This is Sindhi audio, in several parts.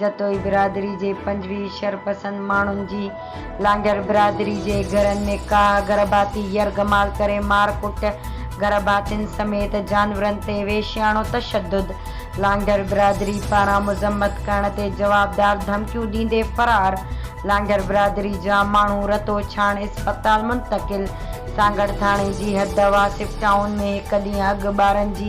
جتوئي برادري جي پنجويهه شرپسند ماڻهن جي لانگهر برادري جي گهرن ۾ ڪاهه گرڀاتي يرغمال ڪري مار ڪٽ، گرڀاتين سميت جانورن تي وحشياڻو تشدد، لانگهر برادري پاران مذمت ڪرڻ تي جوابدار ڌمڪيون ڏيندي فرار، لانگهر برادري جا ماڻهو رتوڇاڻ اسپتال منتقل، سانگهڙ ٿاڻي جي حد واصف ٽائون ۾ هڪ ڏينهن اڳ ٻارن جي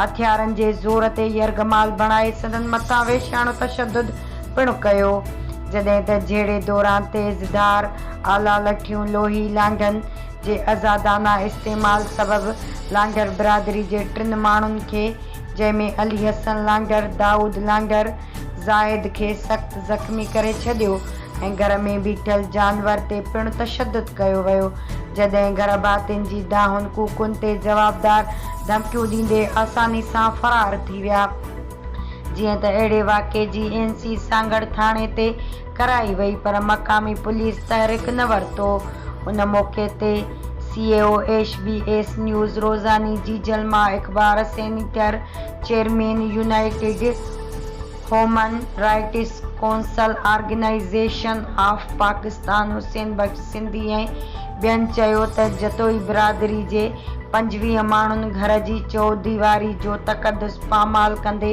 هٿيارن جي زور تي يرغمال بڻائي سندن مٿان وحشياڻو تشدد پڻ ڪيو، جڏهن ته جهيڙي دوران تيز ڌار آلا لٺيون لوهي لانگهن جي ازادانه استعمال سبب لانگهر برادري جي ٽن ماڻهن کي جنهن ۾ علي حسن لانگهر، دائود لانگهر، زاهد کي سخت زخمي ڪري ڇڏيو ۽ گهر ۾ بيٺل جانور تي پڻ تشدد ڪيو ويو، جڏهن گهر ڀاتين جي دانهن ڪوڪن تي جوابدار ڌمڪيون ڏيندي آساني سان فرار ٿي ويا، جيئن ته اهڙي واقعي جي اين سي سانگهڙ ٿاڻي تي ڪرائي وئي پر مقامي پوليس تحرڪ نه ورتو ان موقعي تي C E O H B S news روزاني جي جلما اخبار senator chairman united human rights council organization of Pakistan Hussain Bux Sindhi ۽ ٻين چيو ته جتوئي برادري جي پنجويهه ماڻهن گهر جي چوهديواري جو تقدس پامال ڪندي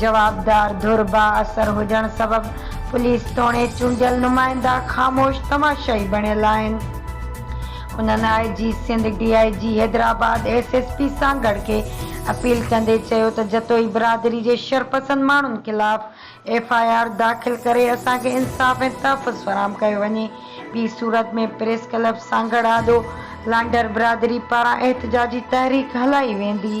جوابدار ڌر با اثر هجڻ سبب پوليس توڻي چونڊيل نمائندا خاموش تماشائي بڻيل آهن. انهن I G Sindh, D I G Hyderabad, S S P Sanghar کي اپيل ڪندي چيو ته جتوئي برادري جي شرپسند ماڻهن خلاف ايف آء آر داخل ڪري اسان کي انصاف ۽ تحفظ فراهم ڪيو وڃي ٻي صورت ۾ پريس ڪلب سانگهڙ آڏو لانڍر برادري پاران احتجاجي تحريڪ هلائي ويندي.